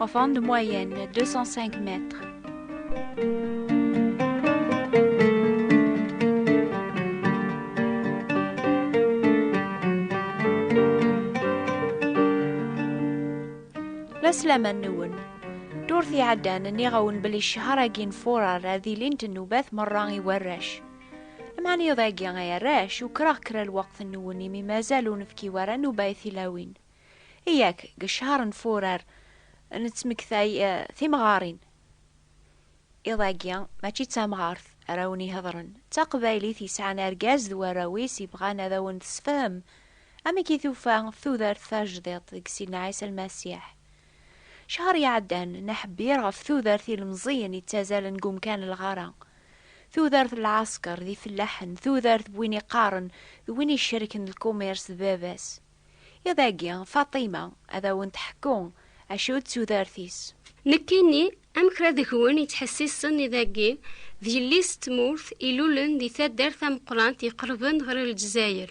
Enfant de moyenne, 205 mètres. La slama nwen. Ddurt iɛeddan nniɣ-awen belli ccehar-agi n furar ad ilint nnubat merra i warrac. Lemɛaniyeḍ-agi ay arrac, ukreɣ kra lweqt nwen imi mazal ur nefki wara nnuba i tilawin. Yak, deg ccehr n Furar nettmektay timɣarin. Iḍ-agi mačči d tamɣart ara wen-ihedren, d taqbaylit yesɛan argaz d warraw-is yebɣan ad awen-tessefhem amek i tufa tudert tajdiṭ deg Sidna Ɛisa Lmasiḥ. Ccehr iɛeddan neḥbir ɣef tudert ilemẓiyen ittazalen deg umkan lɣar-a, tudert n lɛasker d ifellaḥen, tudert n win iqqaren d win icerken lkumirs d baba-s. Iḍ agi, Faṭima ad awen-d-teḥku acu d tudert-is. Nekkini, am kra deg-wen yettḥessisen iḍ agi, d yelli-s n tmurt ilulen di taddart tameqqrant iqerben ɣer Lezzayer.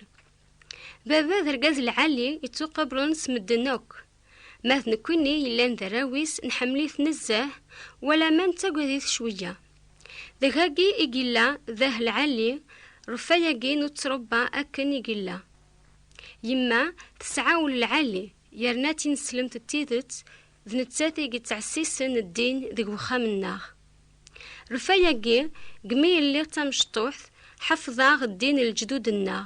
Baba d argaz lɛali yettuqabren s medden akk. Ma d nekkini yellan d arraw-is nḥemmel-it nezzeh, wala ma nettagad-it cweyya. Deg-agi i yella dah lɛali, reffa-agi n uttrebba akken i yella. Yemma tesɛa ul lɛali, yerna tineslemt d tidet, d nettat i yettɛessisen ddin deg wexxam-nneɣ. Lfaya-agi, deg mi i lliɣ d tamecṭuḥt, ḥefḍeɣ ddin n leǧdud-nneɣ.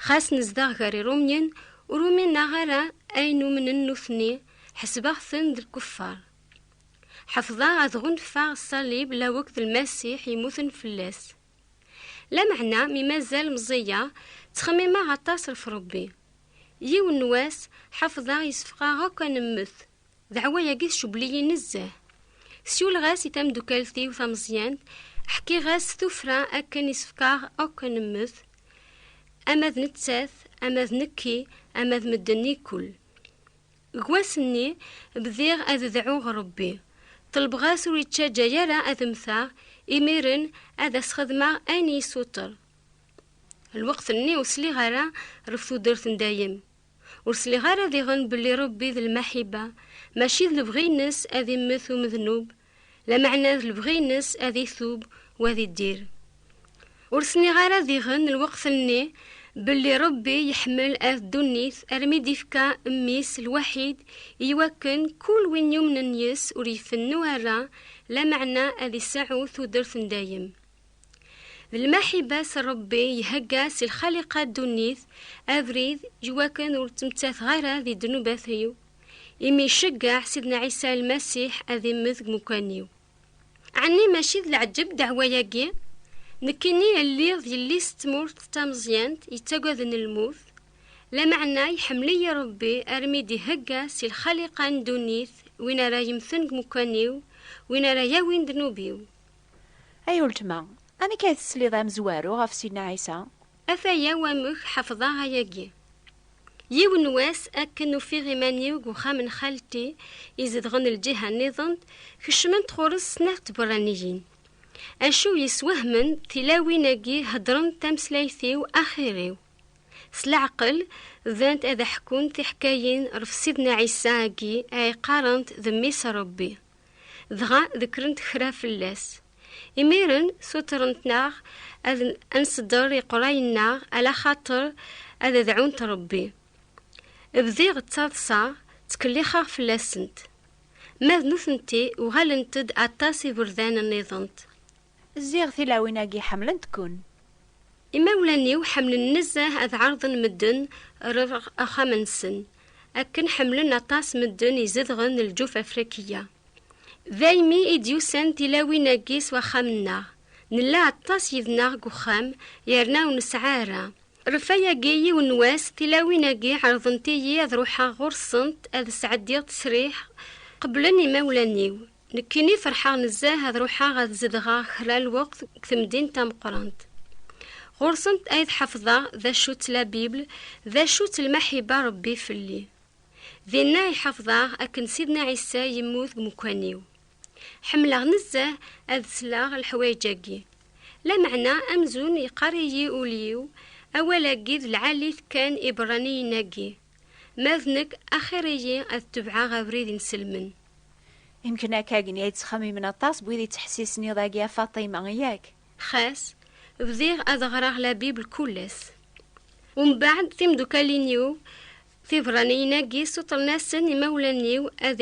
Xas nezdeɣ gar Irumyen, ur umineɣ ara ayen umnen nutni, ḥesbeɣ-ten d lkuffaṛ. Ḥefḍeɣ ad ɣunfaɣ ṣṣalib laweq d Lmasiḥ yemmuten fell-as. Lameɛna mi mazal meẓẓiyeɣ, ttxemmimeɣ aṭas ɣef Ṛebbi. Yiwen n wass, ḥefḍeɣ yessefqaɣ akk ad nemmet, Daɛwa-agi tcewwel-iyi nezzeh. Siwleɣ-as i tameddukalt-iw tameẓyant, ḥkiɣ-as tuffra akken isefk-aɣ akk ad nemmet, ama d nettat, ama d nekki, ama d medden ikkul. Deg wass-nni, bdiɣ ad deɛɛuɣ Rebbi, ṭelbeɣ-as ur ittaǧǧa ara ad mmteɣ, imiren ad as-xedmeɣ ayen i yi-suter. Lweqt-nni ur sliɣ ara ɣef tudert n dayem, Ur sliɣ ara diɣen belli Rebbi d lmaḥiba, mačči d lebɣi-ines ad immet umednub, lameɛna d lebɣi-ines ad itub u ad iddir. Ur s-nniɣ ara diɣen lweqt-nni belli Rebbi yeḥmel at ddunit armi d-ifka Mmi-s lwaḥid i wakken kul win yumnen yes-s ur ifennu ara, lameɛna ad iseɛɛu tudert n dayem. D lmaḥiba s Ṛebbi ihegga si lxaliqa ddunit abrid i wakken ur ttmettateɣ ara di ddnubat-iw, imi iceggeɛ Sidna Ɛisa Lmasiḥ ad immet deg umkan-iw. Ɛni mačči d leɛǧeb ddeɛwa-agi? Nekkini lliɣ d yelli-s n tmurt tameẓyant yettagaden lmut, lameɛna iḥemmel-iyi Ṛebbi armi d-ihegga si lxaliqa n ddunit win ara yemmten deg umkan-iw, win ara yawin ddnub-iw. Ay uletma, amek ay tesliḍ a amezwaru ɣef Sidna Ɛisa? Ataya wamek ḥefḍeɣ ayagi. Yiwen n wass akken ufiɣ iman-iw deg uxxam n xalti izedɣen lǧiha nniḍen, kecment ɣur-s snat tberraniyin. Acu yeswehmen tilawin-agi heddrent tameslayt-iw axir-iw. S leɛqel, bdant ad aḥkunt tiḥkayin ɣef Sidna Ɛisa-agi ay qqarent d Mmi-s n Rebbi. Dɣa dekrent kra fell-as. Imiren sutrent-aɣ ad nsedder iqrayen-nneɣ ala xaṭer ad dɛunt Rebbi. Bdiɣ ttaḍsaɣ, ttkellixeɣ fell-asent. Ma d nutenti uɣalent-d aṭas iberdan-nniḍent. Ziɣ tilawin-agi ḥemmlent-ken. Imawlan-iw ḥemmlen nezzeh ad ɛerḍen medden rer axxam-nsen, akken ḥemmlen aṭas medden izedɣen lǧuf afrikiya. Daymi i d-yusan tilawin-agi s waxxam-nneɣ, nella aṭas yid-neɣ deg uxxam yerna ur nesɛi ara. Refayagi yiwen n wass tilawin-agi ɛerḍent-iyi ad ruḥeɣ ɣur-sent ad sɛeddiɣ ttesriḥ, qeblen imawlan-iw. Nekkini ferḥeɣ nezzeh ad ruḥeɣ ad zedɣeɣ kra lweqt deg temdint tameqqrant. Ɣur-sent ay d-ḥefḍeɣ d acu-tt la Bible, d acu-tt lmaḥiba Rebbi fell-i. Dinna ay ḥefḍeɣ akken Sidna Ɛisa yemmut deg umekkan-iw. Ḥemmleɣ nezzeh ad sleɣ leḥwayeǧ-agi. Lameɛna amzun yeqqar-iyi ul-iw, Awal-agi d lɛali-t kan iberraniyen-agi. Ma d nekk, axir-iyi ad tebɛeɣ abrid inselmen. Imken akka gen ya yettxamimen aṭas n wid yettḥessisen iḍ agi a Faṭima, yak? Xas, bdiɣ ad ɣreɣ la Bible kul ass. Umbeɛd timdukkalin-iw tiberraniyin-agi sutren-asen imawlan-iw ad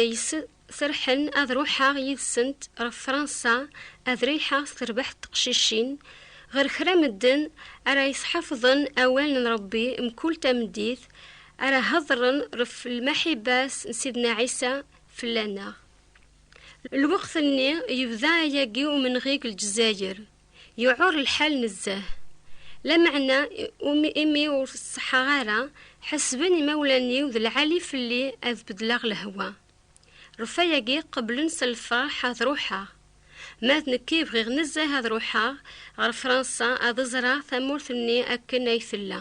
Serḥen ad ruḥeɣ yid-sent ɣef Fransa ad riḥeɣ s terbaḥt teqcicin, ɣer kra medden ara yesḥafḍen awal n Rebbi mkul tameddit, ara hedren ɣef lmaḥiba-s n Sidna Ɛisa fell-aneɣ. Lweqt-nni yebda ayagi umenɣi deg Lezzayer, yuɛur lḥal nezzeh. Lameɛna imi ur ṣeḥḥaɣ ara, ḥesben imawlan-iw d lɛali fell-i ad bedleɣ lehwa. Rrufayagi qeblen s lferḥ ad ruḥeɣ. Ma d nekki bɣiɣ nezzeh ad ruḥeɣ ɣer Fransa ad ẓreɣ tamurt-nni akken ay tella.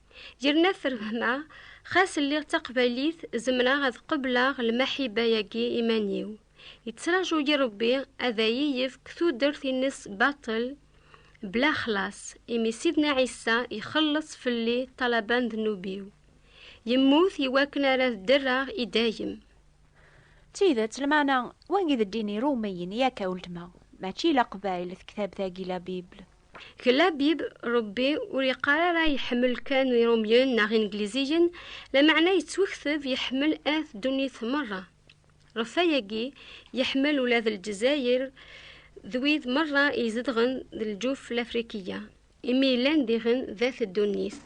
Yerna terhma, xas lliɣ d taqbaylit zemreɣ ad qebleɣ lmaḥiba-agi iman-iw. Yettraǧu-yi Rebbi ad ayi-yefk tudert-ines baṭel bla xlaṣ, imi Sidna Ɛisa ixelleṣ fell-i ṭṭalaba n ddnub-iw. Yemmut i wakken ara dderreɣ i dayem. D tidet, lmeɛna wagi d ddin Irumyen, yak a weltma, mačči Leqbayel, tektabt-agi La Bible. Gelabib, Rebbi ur yeqqar ara yeḥmel kan Irumyen neɣ Ingliziyen, lameɛna yettwekteb yeḥmel at ddunit merra. Ɣef wayagi, yeḥmel ula d Lezzayer d wid merra izedɣen d lǧuf Lafrikiya, imi yellan diɣen d at ddunit.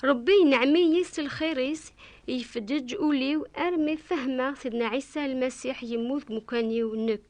Rebbi yenɛem-iyi s lxir-is, yefdeǧ ul-iw armi fehmeɣ Sidna Ɛisa Lmasiḥ yemmut deg umkan-iw nekk.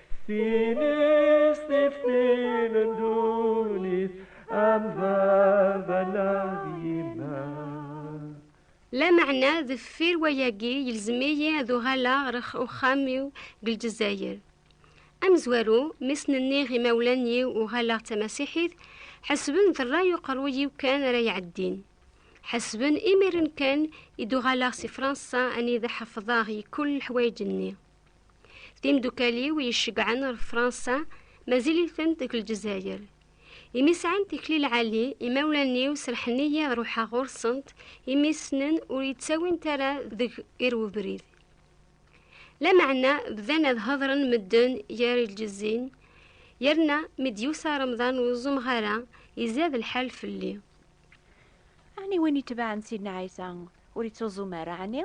Lameɛna deffir wayagi yelzem-iyi ad uɣaleɣ ɣer uxxam-iw deg Lezzayer. Amezwaru, mi sen-nniɣ imawlan-iw uɣaleɣ d tamasiḥit, ḥesben d rray uqerruy-iw kan ara iɛeddin. Ḥesben imiren kan i d-uɣaleɣ si Fransa anida ḥefḍeɣ yekul leḥwayeǧ-nni. Timdukal-iw yecegɛen ar Fransa mazil-iten deg Lezzayer. Imi sɛan tikli lɛali, imawlan-iw serḥen-iyi ad ruḥeɣ ɣur-sent imi ssnen ur yettawint ara deg ir ubrid. Lameɛna bdan ad hedren medden gar lǧezzin, yerna mi d-yusa Remḍan ur ẓumeɣ ara, izad lḥal fell-i. Ɛni win itebɛen Sidna Ɛisa ur ittuẓum ara ɛni?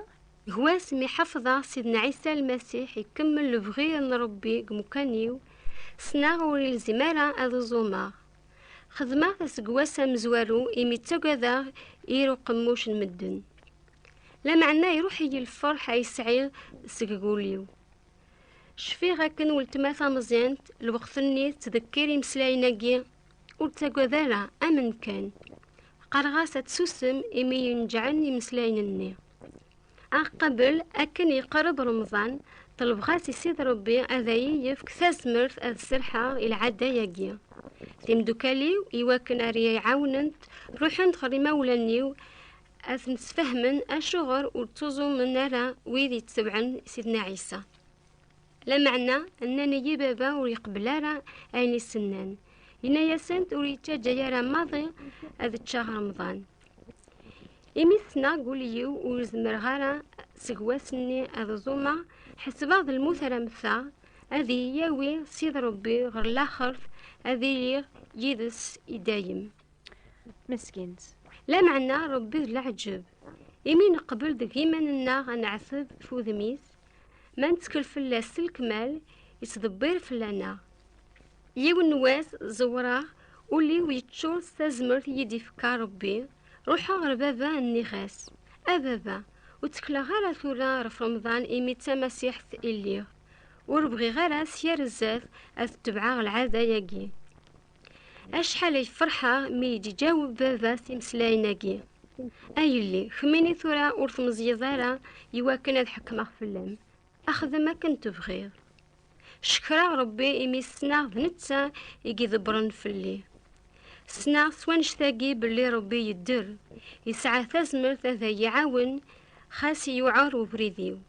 Gma-s mi ḥafḍeɣ Sidna Ɛisa Lmasiḥ ikemmel lebɣi n Ṛebbi deg umkan-iw, ssneɣ ur ilzim ara ad uẓumeɣ. Xedmeɣ-t aseggas amezwaru imi ttagadeɣ ir uqemmuc n medden. Lameɛna iruḥ-iyi lferḥ ay sɛiɣ seg wul-iw. Cfiɣ akken weltma tameẓyant lweqt-nni tettdekkir imeslayen-agi Ur ttagad ara, amen kan. Qqareɣ-as ad tsusem imi yenǧɛen imeslayen-nni. Aqabel akken yeqreb Remḍan, ṭelbeɣ-as i Sidi Rebbi ad ayi-yefk tazmert ad serḥeɣ i lɛada-yagi. Timdukal-iw iwakken ar yi-ɛawnent, ruḥent ɣer imawlan-iw ad ten-sfehmen acuɣer ur ttuẓumen ara wid yettebɛen Sidna Ɛisa. Lameɛna nnan-iyi baba ur yeqbel ara ayen i sennan. Yenna-yasent ur yettaǧǧa ara maḍi ad ččeɣ remḍan. Imi ssneɣ deg wul-iw ur zemreɣ ara seg wass-nni ad ẓumeɣ, ḥesbeɣ d lmut ara mmteɣ, ad iyi-yawi Sidi Rebbi ɣer laxert, ad iliɣ yid-s i dayem. Meskint. Lameɛna Rebbi d leɛǧeb, imi neqbel deg yiman-nneɣ ad neɛteb ɣef wudem-is, Ma nettkel fell-as s lekmal, yettdebbir fell-aneɣ. Yiwen n wass ẓewreɣ, ul-iw yeččur s tazmert i yi-d-ifka Rebbi, ruḥeɣ ɣer baba nniɣ-as, A baba, ur ttekleɣ ara tura ɣef Remḍan imi d tamasiḥt i lliɣ. Ur bɣiɣ ara s yir zzat ad tebɛeɣ lɛada-yagi. Acḥal ay ferḥeɣ mi yi-d-iǧaweb baba s imeslayen-agi. A yelli, kemmini tura ur tmeẓyeḍ ara i wakken ad ḥekmeɣ fell-am. Axdem akken tebɣiḍ. Cekreɣ Rebbi imi ssneɣ d netta i ydebbren fell-i. Ssneɣ s wannect-agi belli Rebbi yedder, yesɛa tazmert ad iyi-iɛawen xas yuɛer ubrid-iw.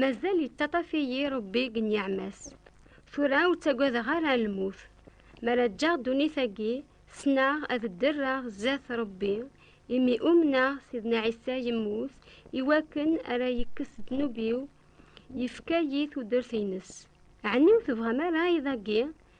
Mazal yettaṭaf-iyi Rebbi deg nniɛma-s. Tura ur ttagadeɣ ara lmut. Mi ara ǧǧeɣ ddunit-agi, ssneɣ ad dderreɣ zdat Rebbi, imi umneɣ Sidna Ɛisa yemmut iwakken ara yekkes ddnub-iw, yefka-yi tudert-ines. Ɛni ur tebɣam ara iḍ-agi